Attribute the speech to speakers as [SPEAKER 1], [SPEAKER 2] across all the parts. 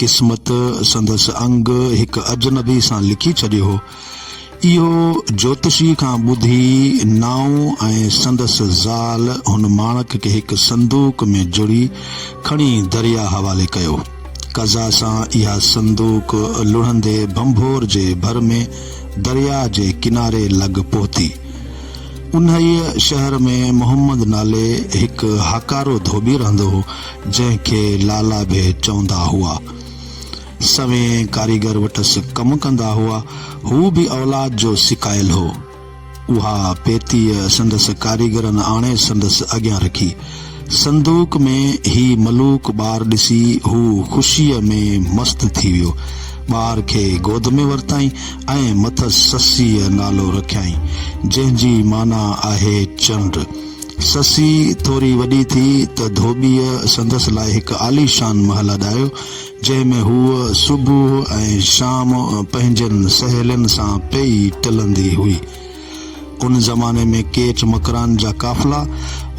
[SPEAKER 1] قسمت سندس انگ هڪ اجنبي سان لکي ڇڏيو هو. اهو جوتشي کان ٻڌي نائون ۽ سندس زال هن ماڻڪ کي هڪ صندوق ۾ جڙي کڻي درياء حوالي ڪيو. قضا سان اها صندوق لڙهندي ڀنڀور جي ڀر ۾ درياء جي ڪناري لڳ پهتي. انهيء شهر ۾ محمد نالي هڪ هاڪارو ڌوٻي رهندو هو. جنهن کي لالا به چوندا هئا. سوين ڪاريگر وٽس ڪم ڪندا هئا. هو به اولاد جو سڪايل هو. اها پيتيء سندس ڪاريگرن آڻي سندس اڳيان رکي. صندوق ۾ هي ملوڪ ٻار ڏسي هو خوشيء ۾ مست ٿي ويو. ٻار کي گود ۾ ورتائين ۽ مٿس سسيء نالو رکيائين، جنهن جي معنيٰ آهي چنڊ. سسي ٿوري وڏي ٿي ته ڌوٻيء سندس لاء هڪ عاليشان محل اڏايو، جنهن ۾ هوء صبح ۽ شام پنهنجين سهيلين سان پئي ٽلندي هئي. ان زماني ۾ ڪيچ مڪران جا قافلا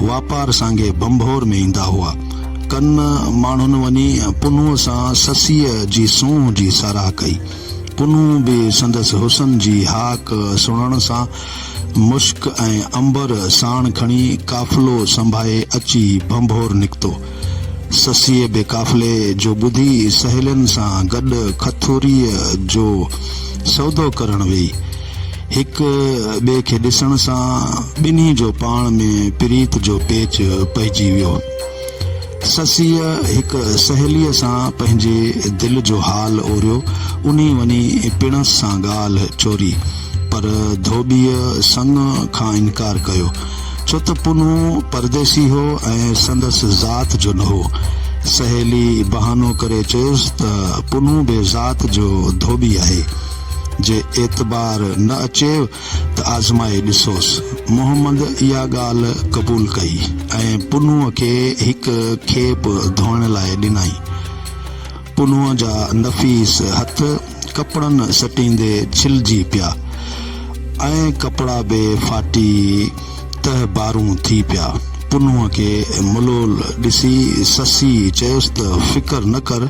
[SPEAKER 1] واپار سانگي ڀنڀور ۾ ايندا هئا. ڪن ماڻهن وڃي پنهونء سان سسيء جي سونهن جي ساراهه ڪئي. پنهون به سندس حسن جي هاڪ سڻڻ سان مشڪ ۽ عنبر ساڻ کڻي قافلو سنڀائي اچي ڀنڀور نڪتو. سسئي به قافلي جو ٻڌي سهيلين سان گڏ کٿوريء جو سودو ڪرڻ ويئي. هڪ ٻئي کي ڏسڻ سان ٻنهي جو پاڻ ۾ پريت جو پيچ پئجي ويو. سسيء هڪ سهيليء سان پنهنجي دل جو حال اوريو، انهي وڃي پڻس سان ڳالهه چوري، پر ڌوٻيء سڱ کان انڪار ڪيو، ڇو ته پنهون پرديسي هو ۽ سندس ذات جو نه هو. سهيليء بهانو ڪري چيس ته پنهون بي ذات جو ڌوٻي آهي، جي اعتبار نه اچيو ته آزمائي ڏسوس. محمد اها ڳالهه قبول ڪئي ۽ پنهونء کي هڪ کيپ ڌوئڻ لاء ڏنائين. پنهونء جا نفيس هٿ ڪپڙن سٽيندي ڇلجي پيا ۽ ڪپڙا به ڦاٽي تهه بارون ٿي پيا. پنهونء کي ملول ڏسي سسيء چيس ته فڪر نه ڪر،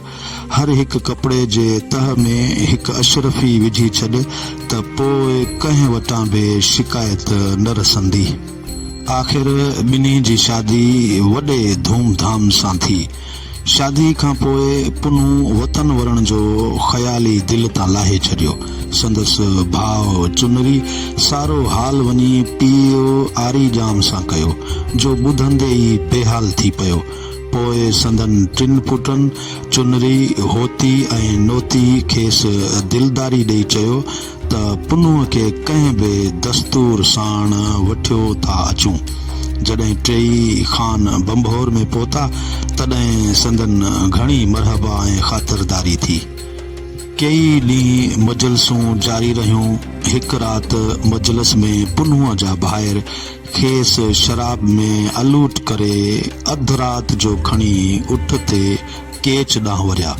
[SPEAKER 1] هر هڪ ڪپڙي جي تهه ۾ هڪ اشرفي وجهي ڇڏ ته پوء ڪنهن وٽان به شڪايت نه رسندي. آخر ٻنهي جي شادي وڏي ڌوم ڌام سان ٿي. شادي کان پوء پنهون وطن ورڻ جو خيال ئي دل تان لاهي ڇڏيو. سندس ڀاء چنري سارو حال وڃي پيء آري ڄام سان ڪيو، جو ٻڌندي ئي بيحال ٿي پيو. پوء سندن ٽن پٽن چنري، هوتي ۽ نوتي کيس دلداري ڏيئي چيو ته پنهونء کي ڪنهن به دستور ساڻ وٺيو ٿا اچون. جڏهن ٽيئي خان ڀنڀور ۾ پهتا، تڏهن سندن گهڻي مرحبا ۽ خاطرداري ٿي. ڪيئي ڏينهن مجلسون جاري رهيون. هڪ رات مجلس ۾ پنهونء جا ڀائر کيس شراب ۾ الوٽ ڪري اڌ رات جو کڻي اٺ تي ڪيچ ڏانهن وريا.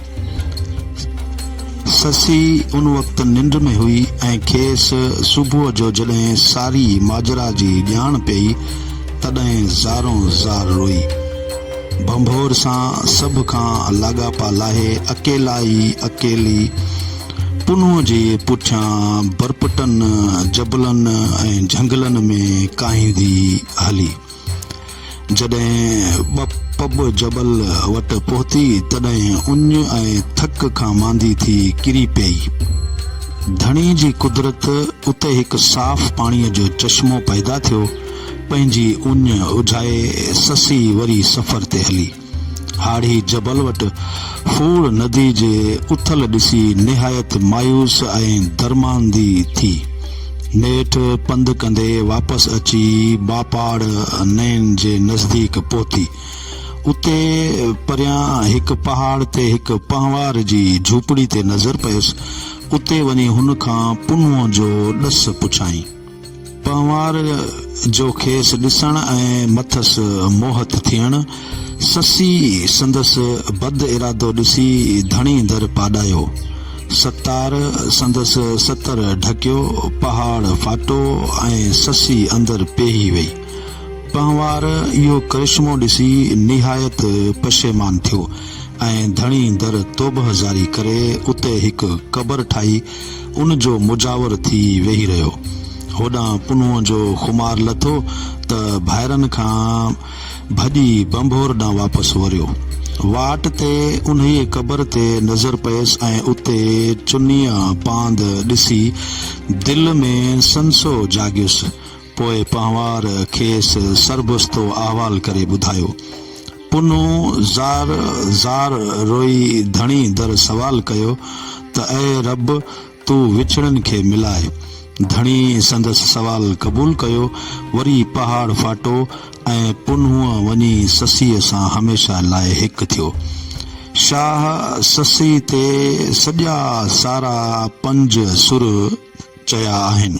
[SPEAKER 1] سسي ان وقت ننڊ ۾ هئي ۽ کيس صبح جو جڏهن ساري ماجرا جي ڄاڻ پيئي تڏهن زارو زار روئي. ڀنڀور سان سڀ کان لاڳاپا لاهي اڪيلا ئي اڪيلي پنهون جي پٺيان برپٽن جبلن ۽ جهنگلن ۾ ڪاهيندي هلي. جڏهن ٻه پٻ جبل وٽ پهتي تڏهن اڃ ۽ ٿڪ کان ماندي ٿي ڪري پيئي. ڌڻي جي قدرت اتي هڪ صاف پاڻيء جو چشمو پيدا ٿيو. پنهنجي اڃ اجهائي سسي وري سفر تي هلي. هاڙهي جبل وٽ ڦوڙ ندي جي اٿل ڏسي نهايت مايوس ۽ درماندي ٿي. نيٺ پنڌ ڪندي واپس اچي ٻاپاڙ نئن جي نزديڪ پهتي. اتي پريان هڪ پهاڙ تي هڪ پنهوار جي جهوپڙي تي نظر پيس. اتي وڃي هن کان پنهون جو ڏس پڇيائين. پنهوار جو کيس ڏسڻ ۽ مٿس موهت ٿيڻ، سسي سندس بد ارادو ڏسي ڌڻي در پاڏايو. ستار سندس ستر ڍڪيو، پهاڙ ڦاٽو ۽ سسي اندر پيهي وئي. پنهوار اهو ڪرشمو ڏسي نهايت پشيمان ٿيو ۽ ڌڻي در توبهه جاري ڪري اتي هڪ قبر ٺاهي ان جو مجاور ٿي ويهي رهيو. هوڏانهن پنهونء جو خمار لٿو ته ڀائرن کان ڀڄي ڀنڀور ڏانهن واپس وريو. واٽ تي انهيء قبر تي نظر پيس ۽ اتي چنيء پاند ڏسي دل ۾ سنسو جاڳيس. پوء پنهوار کيس سربستو احوال ڪري ٻڌايو. پنهون زار زار روئي ڌڻي در سوال ڪيو ته اي رب! تون وڇڙن کي ملاء. ڌڻي سندس سوال قبول ڪيو، وري پهاڙ ڦاٽو ۽ پنهون وڃي سسئيء سان هميشه لاء هڪ ٿيو. شاهه سسئي تي سڄا سارا پنج سر چيا آهن.